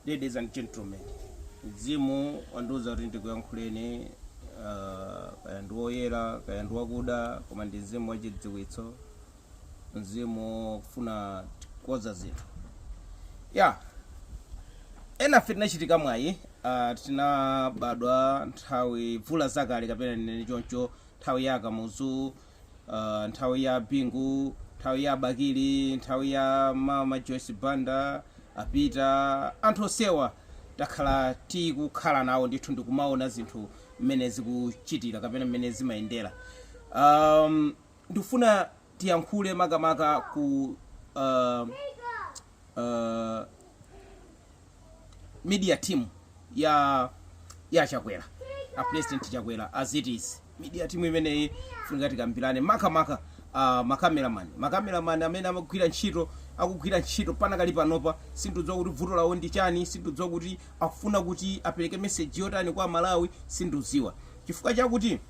Ladies and gentlemen, mzimu wandiuza kuti ndikuyankhuleni ah, kaya ndi woyera kaya ndi wakuda koma ndi mzimu wachidziwitso mzimu wofuna kukoza zinthu ya enafe tinachitika mwayi ah, tinabadwa nthawi mvula zakale kapena ndinene choncho nthawi ya a Kamuzu uh, nthawi ya bingu nthawi ya a bakili nthawi ya mama joyce banda apita anthu onsewa takhala tikukhala nawo ndithu ndikumaona zinthu mmene zikuchitira kapena mmene zimayendera um, ndikufuna tiyankhule makamaka ku uh, uh, media team ya ya chakwera a president chakwera as it is media team imeneyi funika tikambirane makamaka uh, makameraman makameraman amene amagwira ntchito akugwira ntchito panakali panopa sindidziwa kuti vuto lawo ndi chani sindidziwa kuti akufuna kuti apereke meseji yotani kwa amalawi sindidziwa chifukwa chakuti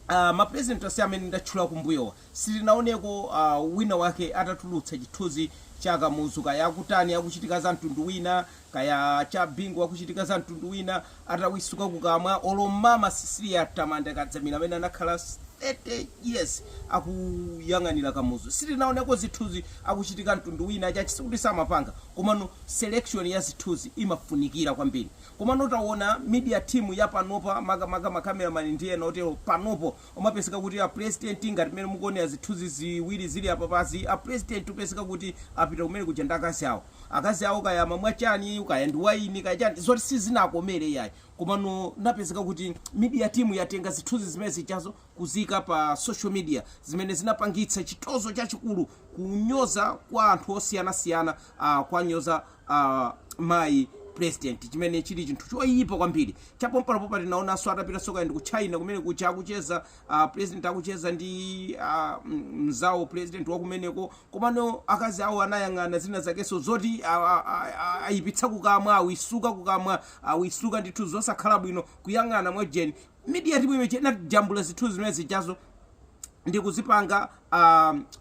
uh, mapresident onse amene ndatchula kumbuyowa Sitinaoneko wina wake atatulutsa chithunzi cha Kamuzu kaya akutani akuchitika za mtundu wina kaya cha Bingu akuchitika za mtundu wina atawisuka kukamwa olo mama Cecilia Tamanda Kadzamira amene anakhala 30 years akuyang'anira Kamuzu sitinaoneko zithunzi akuchitika mtundu wina chachi sikuti samapanga komano selection ya zithunzi imafunikira kwambiri komano tawona media team ya panopa makamaka ma cameraman ndi ena otero panopo Umapezeka kuti a president ngati mmene mukuonera zithunzi ziwiri zili apapazi, a president upezeka kuti apita kumene kuja ndi akazi awo. Akazi awo kaya amamwa chani, kaya ndi wayini, kaya chani, zoti sizinakomere iyayi. Komano anapezeka kuti media team yatenga zithunzi zimene zijazo kuziika pa social media zimene zinapangitsa chitonzo chachikulu, kunyoza kwa anthu osiyanasiyana, kwanyoza. mayi president chimene chili chinthu choyipa kwambiri chapompanopa tinaonanso atapita so kaya ndi ku china kumene kuja akucheza uh, president akucheza ndi uh, mzawo president wakumeneko komano akazi awo anayang'ana zina zakenso zoti ah, ah, ah, ah, ayipitsa kukamwa awisuka kukamwa awisuka ndithu zosakhala bwino kuyang'ana mwajeni media team imene ija inajambula zithunzi zimene zijazo ndi kuzipanga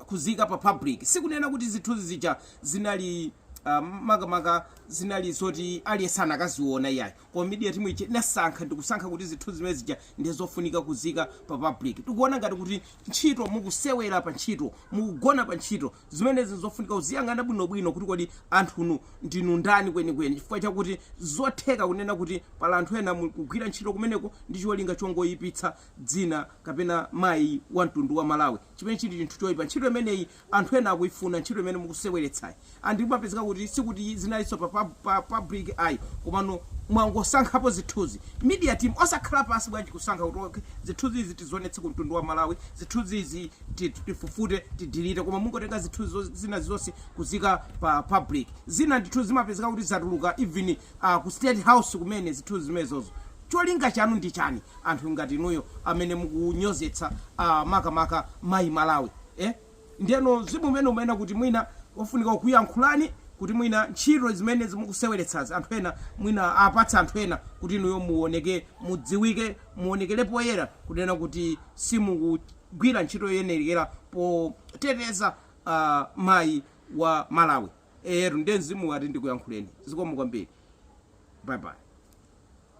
kuziika pa public sikunena kuti zithunzi zija zinali ah, makamaka zinali zoti aliyense sanakaziona iyayi koma media team ija inasankha ndikusankha kuti zithunzi zimene zija ndi zofunika kuziika pa public tikuona ngati kuti ntchito mukusewera pa ntchito mukugona pa ntchito zimenezi zofunika kuziyang'ana bwinobwino kuti kodi anthunu ndinu ndani kwenikweni chifukwa chakuti zotheka kunena kuti pali anthu ena mukugwira ntchito kumeneko ndi cholinga chongoyipitsa dzina kapena mayi wa mtundu wa malawi chimene chili chinthu choipa ntchito imeneyi anthu ena akuifuna ntchito imene mukuseweretsayi and zimapezeka kuti sikuti zinalinso pa, pa, pa public ayi komano mwangosankhapo zithunzi media team osakhala pansi bwanji kusankha kuti okay, zithunzi izi tizionetse ku mtundu wa malawi zithunzi izi ti- ti- tifufute tidilite koma mungotenga zithunzi zo- zina zonse kuzika pa public zina ndithu zimapezeka kuti zatuluka even uh, ku state house kumene zithunzi zimenezozo Cholinga chanu ndi chani anthu ngati inuyo amene mukunyozetsa a makamaka mayi Malawi eh? Ndiyeno mzimu umene umanena kuti mwina ofunika kuyankhulani kuti mwina ntchito zimenezi mukuseweretsazi anthu ena mwina apatse anthu ena kuti inuyo muoneke mudziwike muonekere poyera kunena kuti simukugwira ntchito yoyenera poteteza a mayi wa Malawi. Eyetu nde mzimu wati ndikuyankhuleni. Zikomo kwambiri. Bye bye.